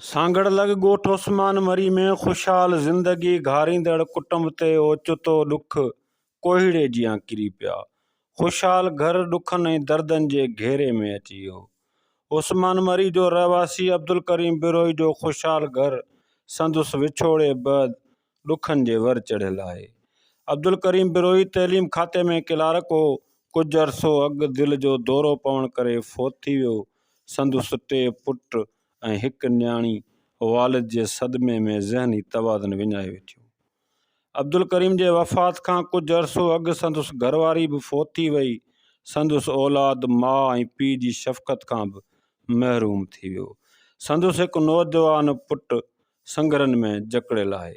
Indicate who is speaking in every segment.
Speaker 1: سانگهڙ لڳ ڳوٺ عثمان مري ۾ خوشحال زندگي گهاريندڙ ڪٽنب تي اوچتو ڏک ڪوهيڙي جيان ڪري پيا. خوشحال گهر ڏکن ۽ دردن جي گهيري ۾ اچي ويو. عثمان مري جو رهواسي عبدالڪريم بروهي جو خوشحال گهر سندس وڇوڙي بعد ڏکن جي ور چڙهيل آهي. عبدالڪريم بروهي تعليم کاتي ۾ ڪلارڪ هو. ڪجهه عرصو اڳ دل جو دورو پوڻ ڪري فوت ٿي ويو. سندس ٽي پٽ ۽ هڪ نياڻي والد جي صدمي ۾ ذهني توازن وڃائي ويٺيون. عبدالڪريم جي وفات کان ڪجهه عرصو اڳ سندس گهر واري به فوت ٿي وئي. سندس اولاد ماء ۽ پيء جي شفقت کان به محروم ٿي ويو. سندس هڪ نوجوان پٽ سنگهرن ۾ جڪڙيل آهي.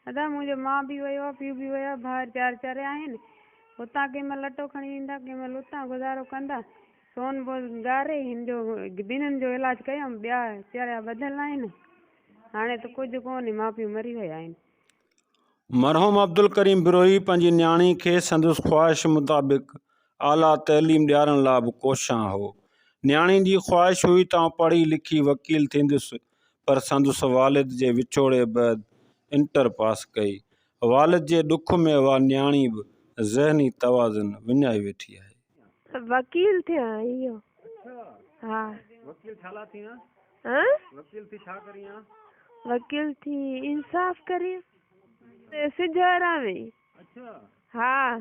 Speaker 1: ادا
Speaker 2: منهنجو ماء به ويو آ پيء به ويو آ ڀائر چار چريا آهن هتان ڪنهن مهل اٽو کڻي ايندا ڪنهن مهل اتان گذارو ڪندا سون بوز ڳاري هن جو ٻنهن جو علاج ڪيم ٻيا چريا ٻڌل آهن. هاڻي ته ڪجهه ڪونهي، ماء پيء مري ويا آهن. مرحوم
Speaker 1: عبدالڪريم بروهي پنهنجي نياڻي کي سندس خواهش مطابق اعليٰ تعليم ڏيارڻ لاء به ڪوشان هو. نياڻي جي خواهش هئي ته آئون پڙهي لکي وڪيل ٿيندس پر سندس والد جي وڇوڙي بعد انٽر پاس ڪئي. والد جي ڏک ۾ اها نياڻي به ذهني توازن وڃائي ويٺي آهي. وڪيل
Speaker 3: ٿيان اهو ها. وڪيل ڇا
Speaker 1: لا ٿيان؟ وڪيل ٿي ڇا ڪريان؟ وڪيل
Speaker 3: ٿي انصاف ڪريان. سج هاران وئي. اڇا.
Speaker 1: ها.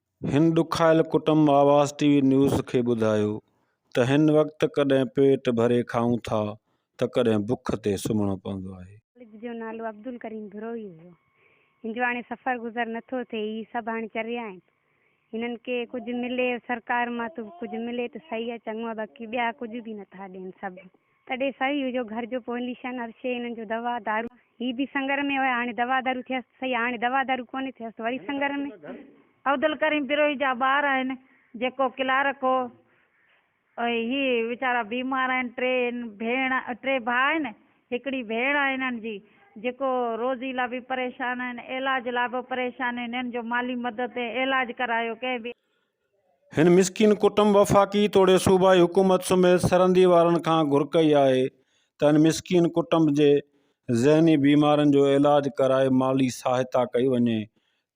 Speaker 4: هن
Speaker 1: ڏکايل ڪٽنب آواز ٽي وي نيوز کي ٻڌايو ته هن وقت ڪڏهن پيٽ ڀري کائون ٿا ته ڪڏهن بک تي سمهڻو پوندو آهي. والد جو نالو
Speaker 2: عبدالڪريم بروهي هيو. هن جو هاڻي سفر گذر نه ٿو ٿئي. هي سڀ هاڻي چريا آهن. هنن کي ڪجهه ملي سرڪار مان ته ڪجهه ملي ته سهي آهي چڱو آهي باقي ٻيا ڪجهه به نه ٿا ڏين سڀ تڏهن سائين اهو جو گهر جو پوئليشن هر شيء هنن جو دوا دارو هي به سنگر ۾ هيا هاڻي دوا دارو ٿيس ته سهي هاڻي دوا دارو ڪونهي ٿيس ته وري سنگر ۾. عبدالڪريم
Speaker 5: پروهي جا ٻار آهن جيڪو ڪلارڪ هو ۽ هي ويچارا بيمار آهن ٽي هن ڀيڻ ٽي ڀاء آهن هڪڙي ڀيڻ آهي هنن جي جيڪو روزي لا به پريشان آهن علاج لا به پريشان آهن هنن جو مالي مدد ۽ علاج ڪرايو ڪنهن به هن
Speaker 1: مسڪين ڪٽنب وفاقي توڙي صوبائي حڪومت سميت سرندي وارن کان گهر ڪئي آهي ته هن مسڪين ڪٽنب جي ذهني بيمارن جو علاج ڪرائي مالي سهائتا ڪئي وڃي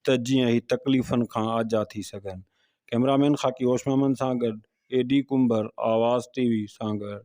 Speaker 1: ته جيئن هي تڪليفن کان آجا ٿي سگهن ڪئميرا مين خاڪي هوش محمد سان گڏ اي ڊي ڪنڀر آواز ٽي وي سانگهڙ.